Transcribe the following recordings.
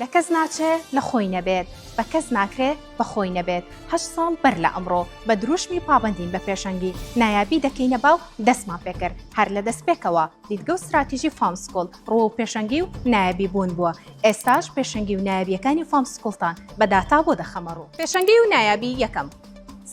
لە کەس ناچێ لە خۆی نەبێت، بە کەس ناکرێ بە خۆی نەبێت، هەشت ساڵ بەر لە ئەمڕۆ، بە درووشمی پابەندین بە پێشەنگی، نایابی دەکەینە با و دەستمان پێ کرد، هەر لە دەستپێکەوە، دیدگە و ستراتیژی فام سکوڵ، ڕووە و پێشەنگی و نایابی بوون بووە، ئێستاش پێشەنگی و نایابییەکانی فام سکوڵتان بە داتا بۆ دەخەمە ڕوو. پێشەنگی و نایابی یەکەم،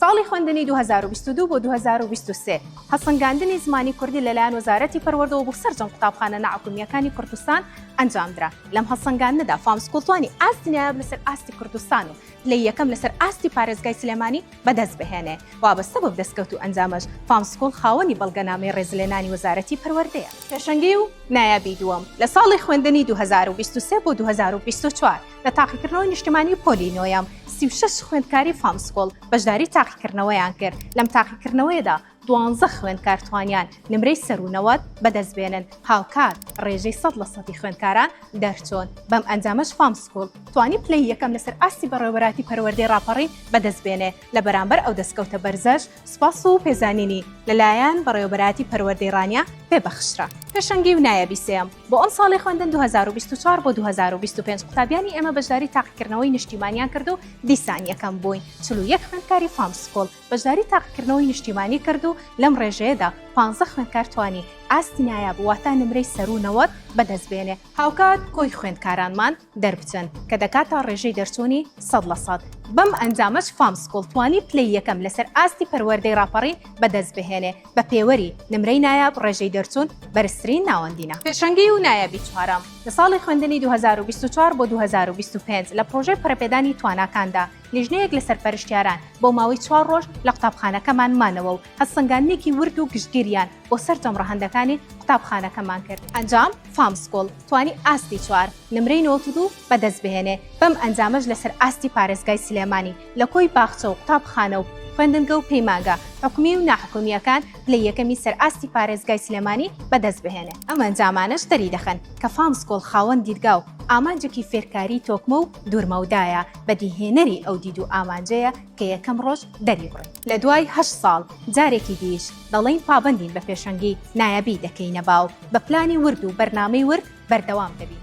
ساڵی خوێندنی 2022 بۆ 2023 هەسەنگاندنی زمانی کوردی لەلایەن وەزارەتی پەروەردەوە بۆ سەرجەم قوتابخانە ناعکومیەکانی کوردستان ئەنجامدرا لەم هەسەنگاندنەدا فامسکوڵتوانی ئاستی نایاب لەسەر ئاستی کوردستان و لە یەکەم لەسەر ئاستی پارێزگای سلێمانی بەدەست بهێنێ وابەستە بە دەستکەوت و ئەنجامەش فامسکوڵ خاوەنی بەڵگەنامەی ڕێزلێنانی وەزارەتی پەروەردەیە پێشەنگی و نایابی دووەم لە ساڵی خوێندنی 2023 بۆ 2024 لە تاقیکردنەوەی نیشتمانی پۆلی نۆیەم سی و شەش خوێندکاری فامسکۆڵ بەشداری تاقیکردنەوەیان کرد لەم تاقیکردنەوەیەدا دوانزە خوێندکار توانیان نمرەی سەروو نەوەد بەدەست بێنن هاوکات ڕێژەی سەد لە سەدی خوێندکاران دەرچۆن بەم ئەنجامەش فامسکۆڵ توانی پلەی یەکەم لەسەر ئاستی بەڕێوەبەراتی پەروەردەی ڕاپەڕین بەدەست بێنێ لە بەرامبەر ئەو دەستکەوتە بەرزەش سوپاس و پێزانینی لەلایەن بەڕێوەبەراتی پەروەردەی ڕانیە پێ بەخشرا پێشەنگی و نایەبی سێیەم بۆ ئەمساڵی خوێندن دوو هەزار و بیست و چوار بۆ دوو هەزار و بیست و پێنج قوتابیانی ئێمە بەشداری تاقیکردنەوەی نیشتیمانیان کرد و دیسان یەکەم بووین چل و یەک خوێندکاری فام سکوڵ بەشداری تاقیکردنەوەی نیشتیمانی کرد و لەم ڕێژەیەدا پانزە خوێندکار توانی ئاستی نایاب واتە نمرەی سەروو نەوەد بەدەست بێنێ هاوکات کۆی خوێندکارانمان دەربچن کە دەکاتە ڕێژەی دەرچوونی سەد لە سەد، بەم ئەنجامەش فام سکوڵ توانی پلەی یەکەم لەسەر ئاستی پەروەردەی ڕاپەڕین بەدەستبهێنێ، بە پێوەری نمرەی نایاب ڕێژەی دەرچوون بەرزترین ناوەندینە. پێشەنگی و نایابی چوارەم، لە ساڵی خوێندنی دوو هەزار و بیست و چوار بۆ دوو هەزار و بیست و پێنج لە پڕۆژەی پەرەپێدانی تواناکاندا لیژنەیەک لە سەرپەرشتیاران بۆ ماوەی چوار ڕۆژ لە قوتابخانەکەمان مانەوە و هەستسەنگاندنێکی ورد و گشتگیریان بۆ سەرجەم ڕەهەندەکانی قوتابخانەکەمان کرد. ئەنجام، فام سکوڵ توانی ئاستی چوار نمرەی نەوەد و دوو بەدەستبهێنێ، بەم ئەنجامەش لەسەر ئاستی پارێزگای سلێمانی لە کۆی باخچە و قوتابخانە و خوێندنگە و پەیمانگە حکومی و ناحکومییەکان پلەی یەکەمی سەر ئاستی پارێزگای سلێمانی بەدەستبهێنێ. ئەم ئەنجامانەش دەریدەخەن کە فامسکۆڵ خاوەن دیدگا و ئامانجێکی فێرکاریی تۆکمە و دوورمەودایە، بەدیهێنەری ئەو دید و ئامانجەیە کە یەکەم ڕۆژ دەریبڕی. لەدوای هەشت ساڵ جارێکی دیش دەڵێین پابەندین بە پێشەنگی نایابی دەکەینە باو بە پلانی ورد و بەرنامەی ورد بەردەوام دەبین.